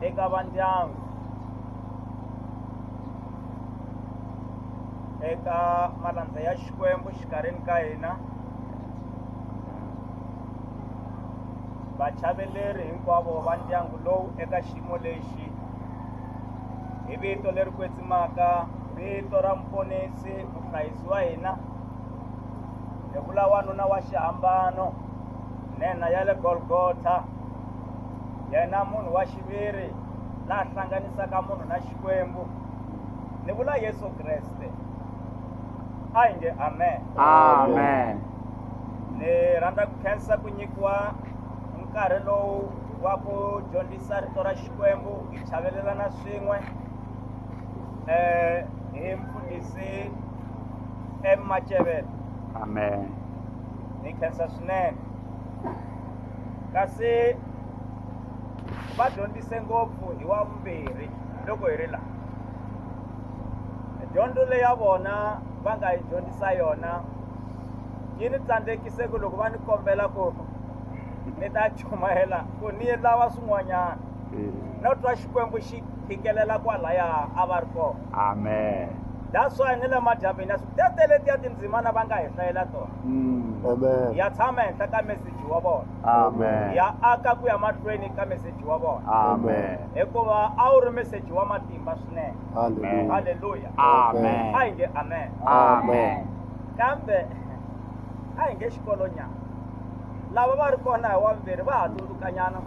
eka vandyangu eka malandza ya xikwembu xikarhini ka hina vachaveleri hinkwavo va ndyangu lowu eka xiyimo lexi hi vito leri kwetsimaka vito ra muponisi muhlayisi wa hina hi vula wanuna wa xihambano nhenha ya le golgotha yena munhu wa xiviri la hlanganisaka munhu na xikwembu ni vula yesu kreste a hi nge amen amen ni rhandza ku khensa ku nyikiwa nkarhi lowu wa ku dyondzisa rito ra xikwembu hi chavelelana swin'we um hi mfundhisi emacevelo amen ni yi khensa swinene kasi va dyondzise ngopfu hi wa vumbirhi loko hi ri laha dyondzo leyi ya vona va nga yi dyondzisa yona yi ni tsandzekise ku loko va ni kombela ku ni ta chumayela ku ni lava swin'wanyana mm. no twa xikwembu xi phikelela kwalaya a va ri kona amen that's why ni le madyambini ya tetele ti ya tindzimana va nga hi hlayela tona mm. ya tshama henhla ka meseji wa vona ya aka ku ya mahlweni ka meseji wa vona hikuva a wu ri meseji wa matimba swinene halleluya a hi nge amen kambe a hi nge xikolonyana lava va ri kona hi wambirhi va ha tsundzukanyana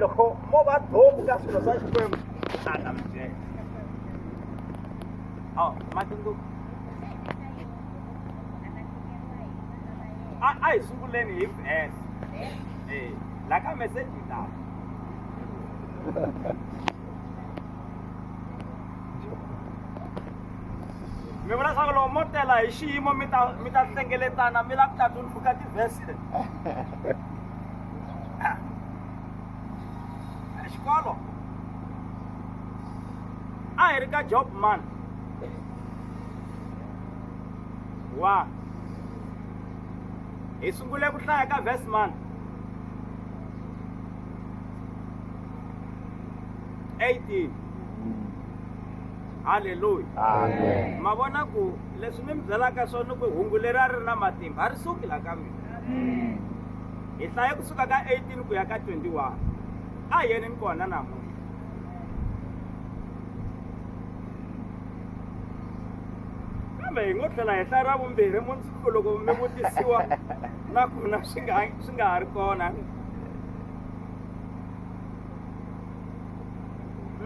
loko mo va domu ka swilo swa xikwembu swi ta ta mujeka oh, matsundzuko a a hi sunguleni hi bes eh, la ka meseji lawa mi vona swa ku loko mo tela hi xiyimo mi ta mi ta hlengeletana mi la ku ta tumbuluka tivheste xikolo a hi ri ka job man wa hi sungule ku hlaya ka verse man eighteen halleluya Amen. ma vona ku leswi ni mi byelaka swona ku hungu leri a ri na matimba a ri suki la ka mina hi hlaye kusuka ka 18 ku ya ka 21 a hi yeneni kona namuntlha kambe hi ngo tlhela hi hlaya ra vumbirhi mundzuku loko mi vutisiwa na kona swi nga swi nga ha ri kona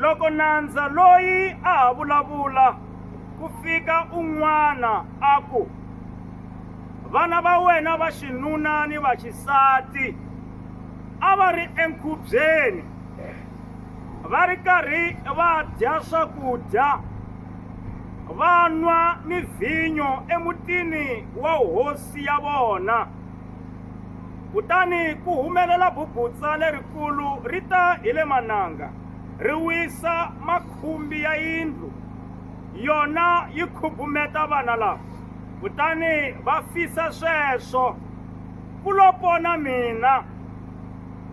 loko nandza loyi a ha vulavula ku fika un'wana a ku vana va wena va xinuna ni va xisati a va ri enkhubyeni va ri karhi va dya swakudya va nwa ni vhinyo emutini wa hosi ya vona kutani ku humelela bubutsa lerikulu ri ta hi le mananga ri wisa makhumbi ya yindlu yona yi khubumeta vana lava kutani va fisa sweswo ku lo pona mina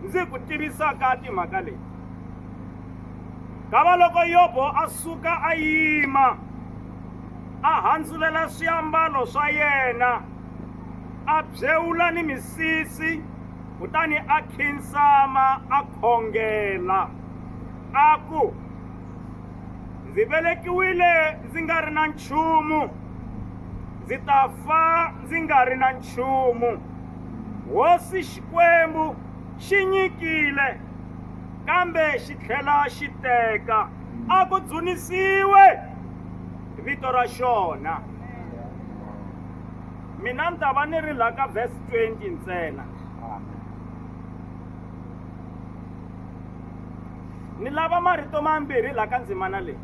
ndzi ku tivisaka timhaka leti kava loko yobo a suka a yima a handzulela swiambalo swa yena a byewula ni misisi kutani a khinsama a khongela a ku ndzi velekiwile ndzi nga ri na nchumu ndzi ta fa ndzi nga ri na nchumu hosi xikwembu xi nyikile kambe xi tlhela xi teka a ku dzunisiwe vito ra xona mina ni ta va ni ri la ka verse 20 ntsena ni lava marito mambirhi laha ka ndzimana leyi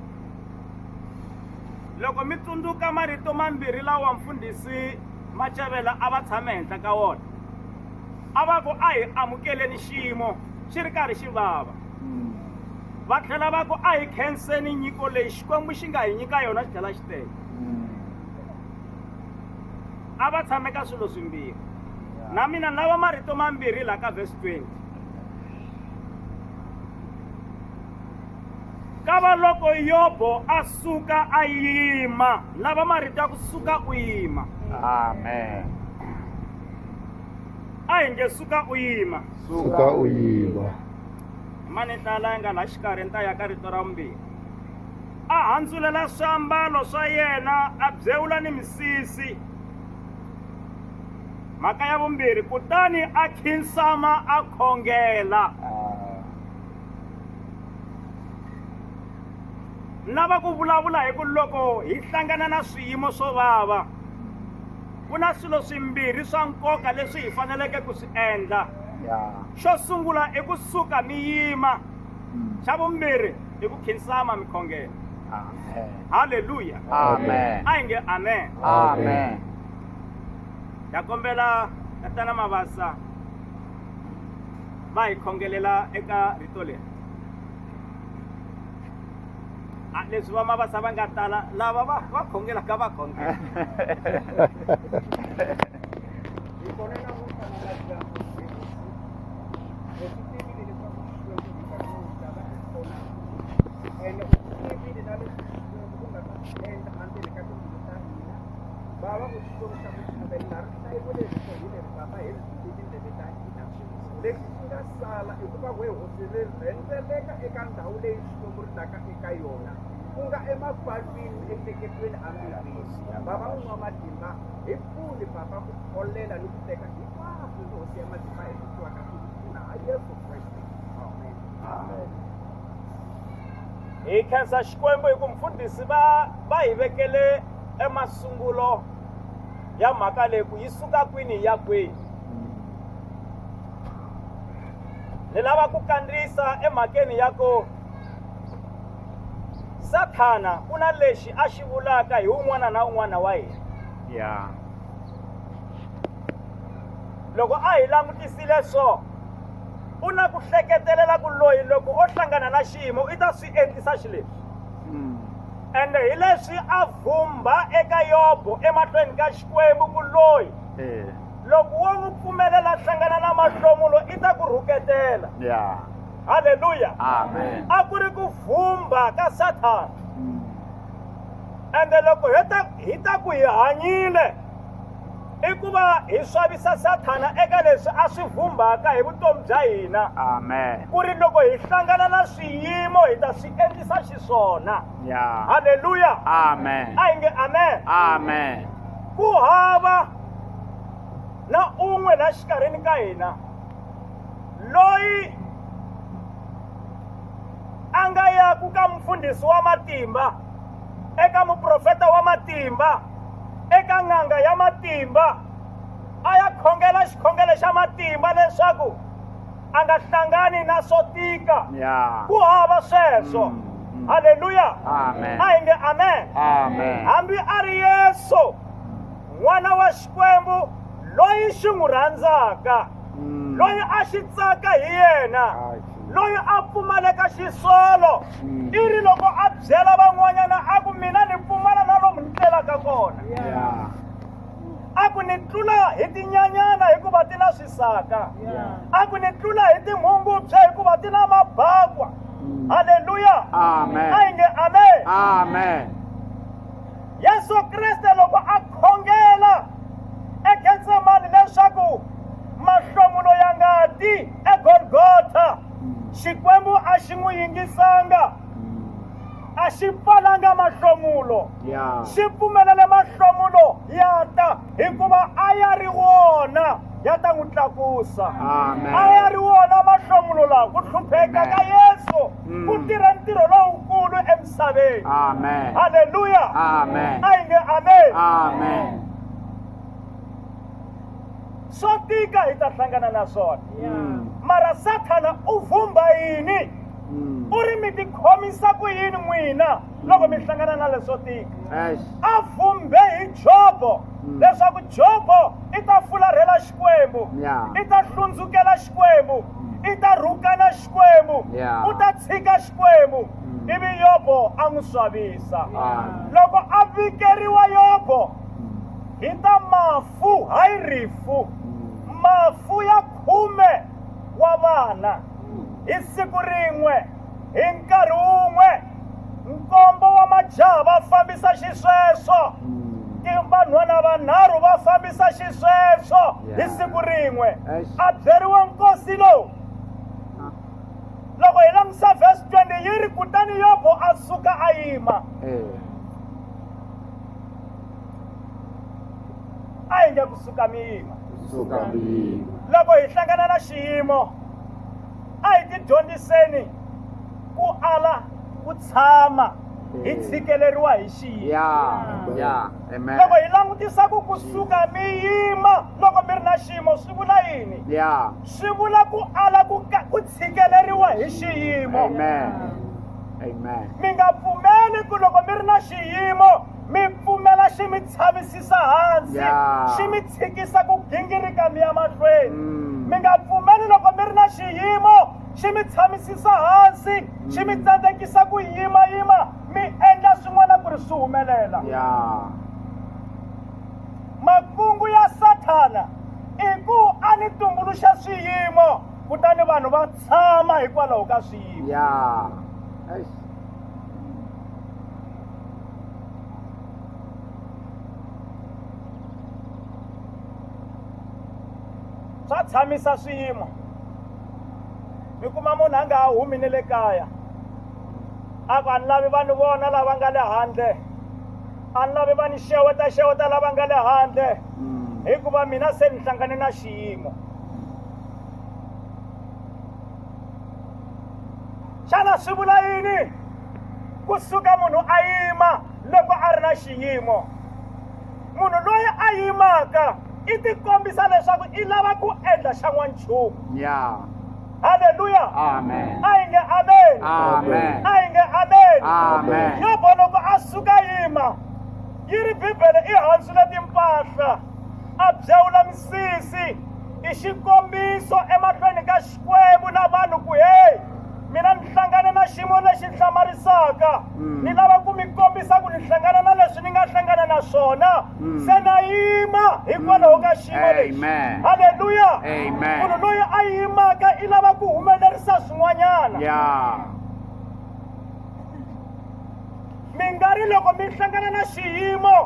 loko mi tsundzuka marito mambirhi lawa mfundhisi macavela a va tshame henhla ka wona a va ku a hi amukeleni xiyimo xi ri karhi xi vava va tlhela va ku a hi khenseni nyiko leyi xikwembu xi nga hi nyika yona xi tlhela xi tele a va tshame ka swilo swimbirhi na mina ni lava marito mambirhi laha ka vhesi 20 kava loko yobo a suka a yima lava marito ya ku suka u yima amen a hi nge suka u yima suka u yima mani hlala yi nga la xikarhi ni ta ya ka rito ra vumbirhi a handzulela swiambalo swa yena a byewula ni misisi mhaka ya vumbirhi kutani a khinsama a khongela ni lava ku vulavula hi ku loko hi hlangana na swiyimo swo vava ku na swilo swimbirhi swa nkoka leswi hi faneleke ku swi endla xo sungula i ku suka mi yima hmm. xa vumbirhi i ku khinsama mi khongela halleluya amen a hi nge amen amen ta kombela tatana mavasa va hi khongelela eka rito leri leswi va mavasa va nga tala lava va va khongelaka va khongela Baba u xikwembu xa muchuveni na rihlayiweleni swo hi leri baba hi ri tindleve ta hina lexi xi nga sala i ku va we hosi ri rhendzeleka eka ndhawu leyi xikwembu ri taka eka yona ku nga emapalwini emiehleketweni amirini baba u nwa matimba hi pfuni baba ku kholela ni ku teka hinkwaswo ni hosi ya matimba hi vitiwaka ku pfuna ha yesu kreste amen amen hi khensa xikwembu hi ku mfundhisi va va hi vekele emasungulo ya mhaka leyi ku yi suka kwini ya kwini ni lava ku kandziyisa emhakeni ya ku sathana ku na lexi a xi vulaka hi un'wana na un'wana wa hina ya loko a hi langutisile so u na ku hleketelela ku loyi loko o hlangana na xiyimo i ta swi endlisa xileswi hmm. ende hi leswi a vhumbha eka yobo emahlweni ka xikwembu ku loyi eh. loko wo n'wi pfumelela hlangana na mahlomulo i ta ku rhuketela halleluya a ku ri ku vhumbha ka sathana hmm. ende loko hi ta ku hi hanyile i ku va hi swavisa sathana eka leswi a swi vhumbhaka hi vutomi bya hina amen ku ri loko hi hlangana na swiyimo hi ta swi endlisa xiswona ya halleluya amen a hi nge amen amen ku hava na un'we la xikarhini ka hina loyi a nga yaku ka mufundhisi wa matimba eka muprofeta wa matimba eka n'anga ya matimba a ya khongela xikhongelo xa matimba leswaku a nga hlangani na swo tika Yeah. ku hava sweswo Mm, mm. halleluya Amen. a hi nge amen Amen. hambi a ri yesu n'wana wa xikwembu loyi xi n'wi rhandzaka Mm. loyi a xi tsaka hi yena Amen. loyi a pfumaleka xisolo i ri loko a byela van'wanyana a ku mina ni pfumala na lomu ni tlelaka kona a ku ni tlula hi tinyanyana hikuva ti na swisaka a ku ni tlula hi tinghungubyha hikuva ti na mabakwa mm. halleluya a yi nge amen amen yesu kreste loko a khongela egetsemani leswaku mahlomulo ya ngati egolgotha xikwembu a xi n'wi yingisanga a xi pfalanga mahlomulo Yeah. xi pfumelele mahlomulo ya ta hikuva a ya ri wona ya ta n'wi tlakusa Amen. a ya ri wona mahlomulo lawa ku hlupheka ka Amen. yesu Mm. ku tirhe ntirho lowukulu emisaveni Amen. halleluya Amen. a yi nge amen Amen. swo tika hi ta hlangana na swona hmm. mara sathana u vhumba yini hmm. u ri mi tikhomisa ku yini n'wina loko mi hlangana na leswo tika a vhumbe hi jobo hmm. leswaku jobo i ta fularhela xikwembu i ta hlundzukela xikwembu i ta rhukana xikwembu u ta tshika xikwembu ivi yobo a n'wi swavisa loko a vikeriwa yobo hi ta mafa rifu hayi rifu mafu ya khume wa vana hi siku rin'we hi nkarhi wun'we nkombo wa majaha va fambisa xisweswo vanhwana vanharhu va fambisa xisweswo hi siku rin'we a byeriwa nkosi lowu loko hi langutisa vhesi 20 yi ri kutani yobo a suka a yima eh. a hi nge kusuka miyima kusuka miyima loko hi hlangana na xiyimo a hi tidyondziseni ku ala ku tshama hi tshikeleriwa hi xiyimoloko hi langutisa ku kusuka mi yima loko mi ri na xiyimo swi vula yini swi vula ku ala ku ku tshikeleriwa hi xiyimo mi nga pfumeli ku loko mi ri na xiyimo mi pfumela xi mi tshavisisa hansi xi mi tshikisa ku gingirika mi ya mahlweni mm. mi nga pfumeli loko mi ri na xiyimo xi mi tshamisisa hansi xi mi mm. tsandzekisa ku yimayima mi endla swin'wana ku ri swi humelela makungu ya sathana i ku a ni tumbuluxa swiyimo kutani vanhu va tshama hikwalaho ka swiyimo swa tshamisa swiyimo mi kuma munhu a nga ha humi ni le kaya a ku a ni lavi vanhu vona lava nga le handle a ni lavi va ni xeweta xeweta lava nga le handle mm. hikuva mina se ni hlangane na xiyimo xana swi vula yini ku suka munhu a yima loko a ri na xiyimo munhu loyi a yimaka i tikombisa leswaku i lava ku endla xa n'wanchumu yeah. haleluya amen a yi nge amen amen a yi nge amen amen yobo loko a suka yima yi ri bibele i handzule timpahla a byawula misisi i xikombiso emahlweni ka Xikwembu na vanhu ku, Heyi, mina ni hlangane na xiyimo lexi hlamarisaka. Mm. Ni lava ku mi kombisa ku ni hlangana na leswi ni nga hlangana na swona. Mm. Se na yima hikwalaho ka xiyimo mm. lexi. Haleluya! Munhu loyi a yimaka i lava ku humelerisa swin'wanyana. Mi nga ri loko mi hlangana na xiyimo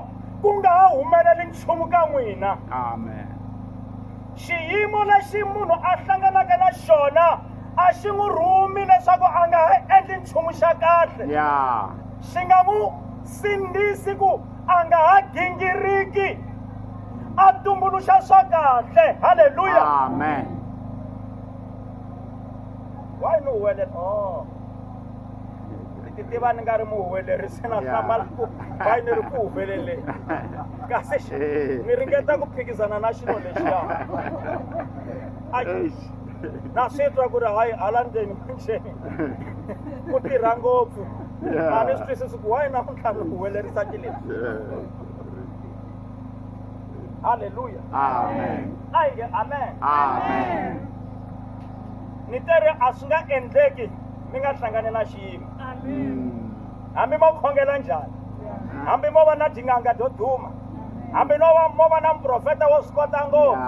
ku nga ha humeleli nchumu ka n'wina. Amen. xiyimo lexi munhu a hlanganaka na xona a xi n'wi rhumi leswaku a nga ha endli nchumu xa kahle ya xi nga n'wi sindzisi ku a nga ha gingiriki a tumbuluxa swa kahle halleluya amen why no wena oh ni ti tiva ni nga ri muhuwelerisi na Yeah. hlamala ku bayi ni ri ku humelele kasi xi- Eh. ni ringeta ku phikizana na xilo lexiya Ai, Eish. na swi twa ku ri hayi hala ndzeni manjeni ku tirha ngopfu Yeah. a ni swi twisisi ku wayi namuntlha ni huwelerisa tileni Yeah. halleluya Amen. a yi nge amen Amen. ni te ri a swi nga endleki mi nga hlangani na xiyimo hambi mo khongela njhani hambi mo va na tinganga to duma hambi no va mo va na muprofeta wo swi kota ngopfu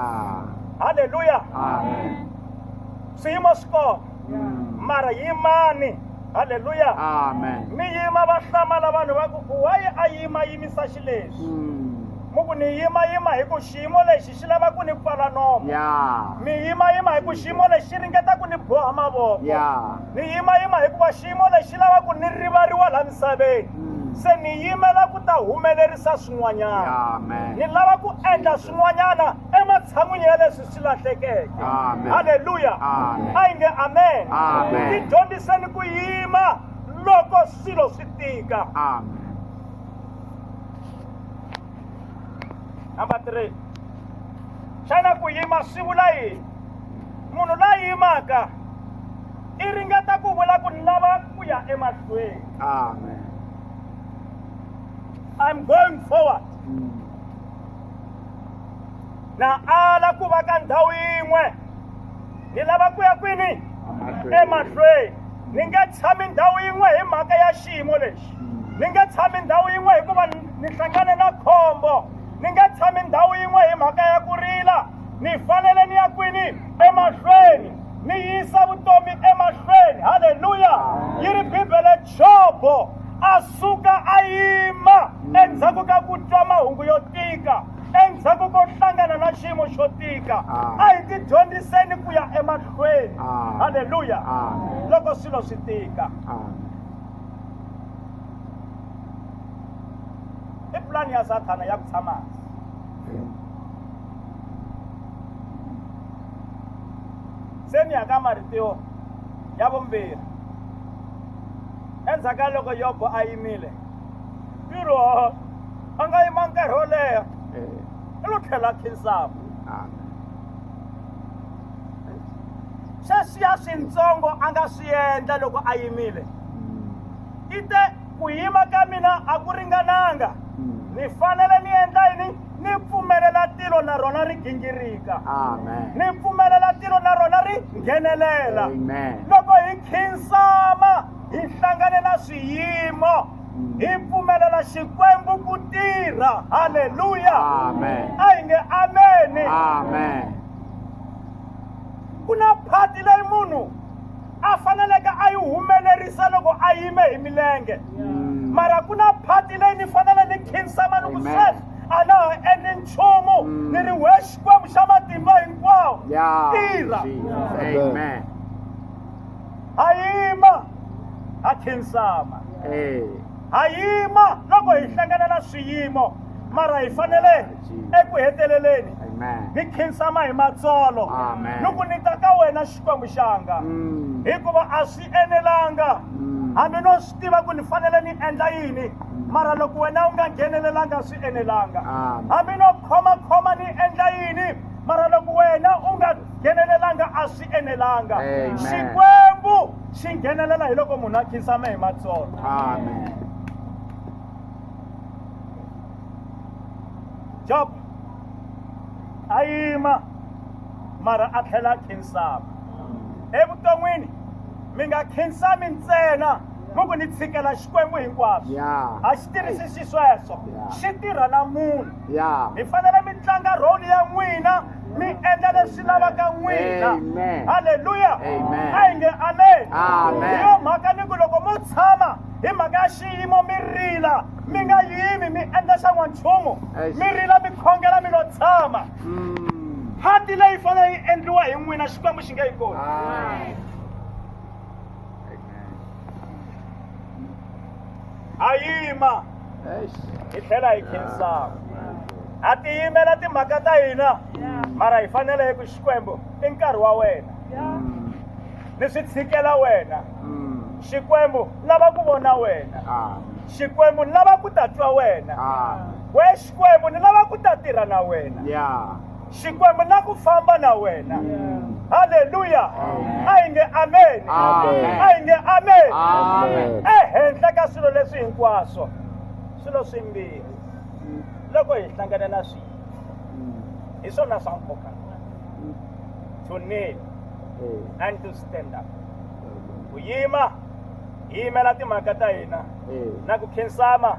halleluya swiyimo swi kona mara yimani halleluya mi yima va hlamala vanhu va ku wayi a yima yimisa xileswi hmm. mu ku ni yima yima hi ku xiyimo lexi xi lava ku ni pfala nomo yeah. mi yimayima hi ku xiyimo lexi xi ringeta ku ni boha mavoko yeah. ni yimayima hikuva xiyimo lexi xi lava ku ni rivariwa laha misaveni mm. se ni yimela ku ta humelerisa swin'wanyana ni lava ku endla swin'wanyana ematshan'wini ya leswi swi lahlekeke halleluya a yi nge amen ti dyondziseni ku yima loko swilo swi tika amen number three xana ku yima swi vula yini munhu la yimaka i ringeta ku vula ku ni lava ku ya emahlweni amen i'm going forward mm. na ala ku va ka ndhawu yin'we ni lava ku ya kwini emahlweni ni nge tshami ndhawu yin'we hi mhaka ya xiyimo lexi ni nge tshami ndhawu yin'we hikuva ni hlangane na khombo ni nge tshami ndhawu yin'we hi mhaka ya ku rila ni fanele ni ya kwini emahlweni ni yisa vutomi emahlweni halleluya yi ri bibele jobo a suka a yima endzhaku ka ku twa mahungu yo tika endzhaku ko hlangana na xiyimo xo tika ah. a hi tidyondziseni ku ya emahlweni ah. halleluya ah. loko swilo swi tika i pulani ya sathana ya ku tshama hansi se ni ya ka marito ya vumbirhi endzhaku ka loko yobo a yimile ntirho a nga yima nkarhi wo leha i lo tlhela khinsama sweswiya swintsongo a nga swi endla loko a yimile i te ku yima ka mina a ku ringananga ni fanele ni endla yini ni pfumelela tilo na rona ri gingirika ni pfumelela tilo na rona ri nghenelela loko hi khinsama hi hlangane na swiyimo hi pfumelela xikwembu ku tirha halleluya a hi nge ameni amen ku na phati leyi munhu a faneleke a yi humelerisa loko a yime hi milenge mm. mara ku na phati leyi ni fanele ni khinsama ni ku sweswi a na ha endli nchumu mm. ni ri we xikwembu xa matimba hinkwawo tirha ha yima ha khinsama Eh, ha yima loko hi hlangana na swiyimo mara hi fanele eku heteleleni Amen. hi khinsama hi matsolo Amen. loko ni ta ka wena xikwembu xanga Mm, hikuva a swi enelanga mm, hambi no swi tiva ku ni fanele ni endla yini mara loko wena u nga nghenelelanga swi enelanga Amen. hambi no khomakhoma ni endla yini mara loko wena u nga nghenelelanga a swi enelanga Amen. xikwembu xi nghenelela hi loko munhu a khinsama hi matsolo Amen. job a yima mara a tlhela a khinsama evuton'wini mi nga khinsami ntsena mi ku ni tshikela xikwembu hinkwaswo Yeah. a xi tirhisi xisweswo Yeah. xi tirha na munhu Yeah. mi fanele mi tlanga role ya n'wina mi endla leswi lavaka n'wina halleluya a hi nge amen hi yo mhaka ni ku loko mo tshama hi mhaka ya xiyimo mi rila mi nga yimi mi endla xa n'wanchumu mi rila mi khongela mi lo tshama mm. phati leyi fanele yi endliwa hi n'wina xikwembu xi nge yi kona a yima hi tlhela hi khensaka ha tiyimela timhaka ta hina mara hi fanele hi ku xikwembu i nkarhi wa wena ni swi tshikela wena xikwembu lava ku vona wena xikwembu ni lava ku ta twa wena we xikwembu ni lava ku ta tirha na wena xikwembu na ku famba na wena halleluya a hi nge ameni a hi nge ameni ehenhla ka swilo leswi hinkwaswo swilo swimbirhi loko hi hlangane na swihi hi swona swa nkoka to kneel and to stand up ku yima hi yimela timhaka ta hina na ku khensama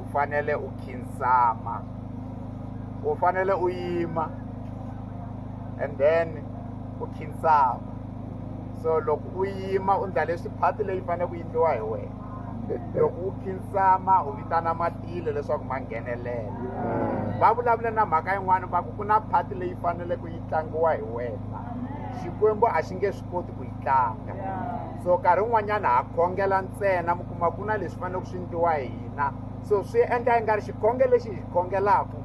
u fanele u khinsama u fanele u yima and then u khinsama so loko u yima u ndla leswi phati leyi faneleke ku yindliwa hi wena loko u khinsama u vitana matilo leswaku ma nghenelela va vulavula na mhaka yin'wana va ku ku na phati leyi faneleke yi tlangiwa hi wena xikwembu a xi nge swi koti ku yi tlanga so nkarhi wun'wanyana ha khongela ntsena kuma ku na leswi faneleke swi ndliwa hi hina so swi endla yi nga ri xikhonge lexi hi khongelaka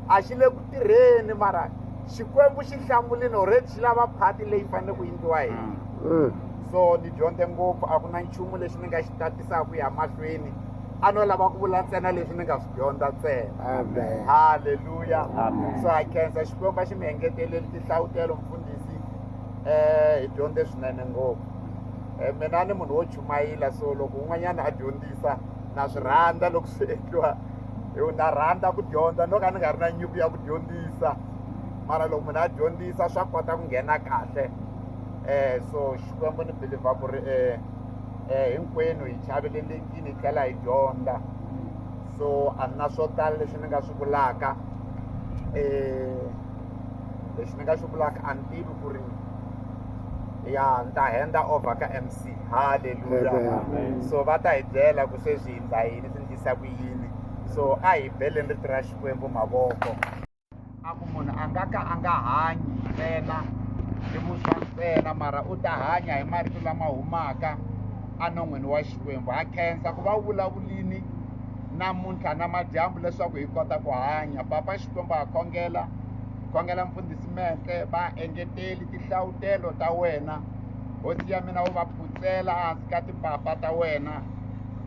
a xi le ku tirheni mara xikwembu xi hlamulini already xi lava phati leyi fanele ku endliwa hi mm. mm. so ni dyondze ngopfu a ku na nchumu lexi ni nga xi tatisaka ya mahlweni a no lava ku vula ntsena leswi ni nga swi dyondza ntsena halleluya so ha khensa xikwembu a xi mi engeteleli tihlawutelo mfundhisi um hi dyondze swinene ngopfu um mina ni munhu wo chumayela so loko un'wanyana a dyondzisa na swi rhandza loko swi endliwa yo na rhandza ku dyondza no ka ni nga ri na nyuku ya ku dyondzisa mara loko munhu a dyondzisa swa kota ku nghena kahle um so xikwembu ni believer ku ri um um hinkwenu hi chavelelekini hi tlhela hi dyondza so a ni na swo tala leswi ni nga swi vulaka um lexi ni nga xi vulaka a ni tivi ku ri ya ni ta henda over ka mc halleluya so va ta hi byela ku sweswi hindza yini swi ndlisa ku yini so a hi beleni rito ra xikwembu mavoko a ku munhu a nga ka a nga hanyi ntsena hi vuswa ntsena mara u ta hanya hi marito lama humaka enon'wini wa xikwembu ha khensa ku va vulavulini namuntlha na madyambu leswaku hi kota ku hanya papa xikwembu ha khongela khongela mfundhisi mentle va engeteli tihlavutelo ta wena hosi ya mina u va phutsela hansi ka timpapa ta wena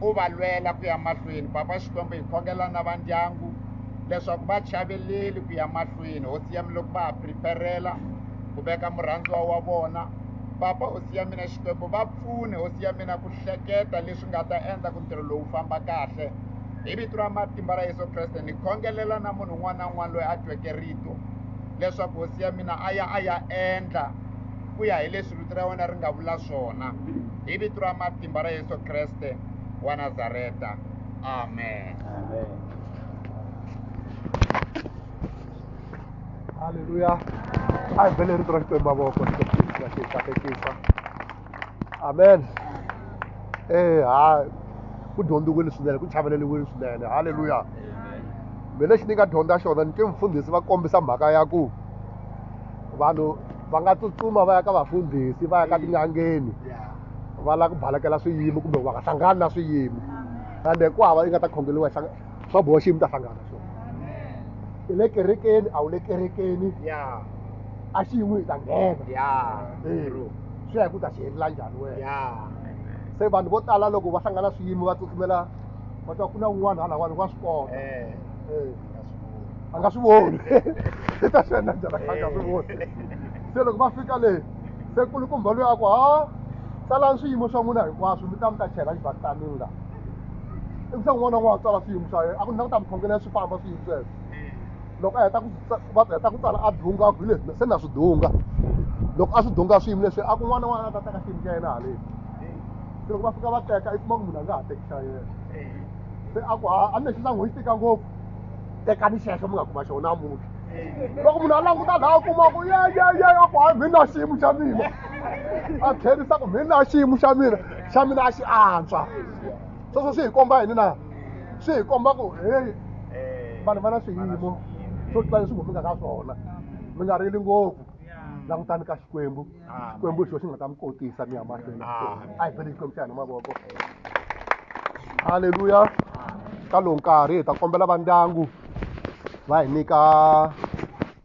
u va lwela ku ya mahlweni papa xikwembu hi khongela na va ndyangu leswaku va chaveleli ku ya mahlweni hosi ya mina loko va ha preparela ku veka murhandziwa wa vona papa hosi ya mina xikwembu va pfune hosi ya mina ku hleketa leswi nga ta endla ku ntirho lowu famba kahle hi vito ra matimba ra yesu kreste ni khongelela na munhu un'wana na un'wana loyi a tweke rito leswaku hosi ya mina a ya a ya endla ku ya hi leswi vito ra wena ri nga vula swona hi vito ra matimba ra yesu kreste wa nazareta amen, amen. Hallelujah. I believe in the rest of my work. amen eh ha ku dyondziwile swinene ku chaveleliwile swinene halleluya mina lexi ni nga dyondza xona ni twe mfundhisi va kombisa mhaka ya ku vanhu va nga tsutsuma va ya ka vafundhisi va ya ka tin'angeni va lava ku balekela swiyimo kumbe va nga hlangani na swiyimo ende ku hava yi nga ta khongeriwa swa boha xiyimo ta hlangana swona i le kerekeni a wu le kerekeni ya a xiyimo hi ta nghena ya Eh, swi ya hi ku ta xi helela njhani wena ya se vanhu vo tala loko va hlangana swiyimo va tsutsumela va twa ku na un'wana halawani wa swi kota eh Eh, a nga swi voni i ta swi endla njhani a nga swi voni se loko va fika le se kulukumba loyi a ku ha tsalani swiyimo swa n'wina hinkwaswo mi ta mi ta chela xibakitani la i se n'wana n'wana tsala swiyimo swa yena a ku ni languta mukhongelo ya swi famba swiyimo sweswo loko a heta ku va heta ku tsala a dunga ku hi leswi se na swi dunga loko a swi dunga swiyimo leswi a ku n'wana n'wana a ta teka xiyimo xa yena haleni se loko va fika va teka i kuma ku munhu a nga ha teki xa yena se a ku ha a ni lexi sangu xi tika ngopfu tekani xexo mi nga kuma xona namuntlha loko munhu a languta laha a kuma ku ye ye ye a ku hayi mina xiyimo xa mina a tlherisa ku mina xiyimo xa mina xa mina a xi antswa sweswo swi hi komba yini na swi hi komba ku heyi vanhu va na swiyimo swo tlula leswi ngomingaka ka swona mi nga rili ngopfu langutani ka xikwembu xikwembu xo xi nga ta mi kotisa mi ya mahlweni a hi bele xikwembu xa hina mavoko halleluya ka lowu nkarhi hi ta kombela va ndyangu va hi nyika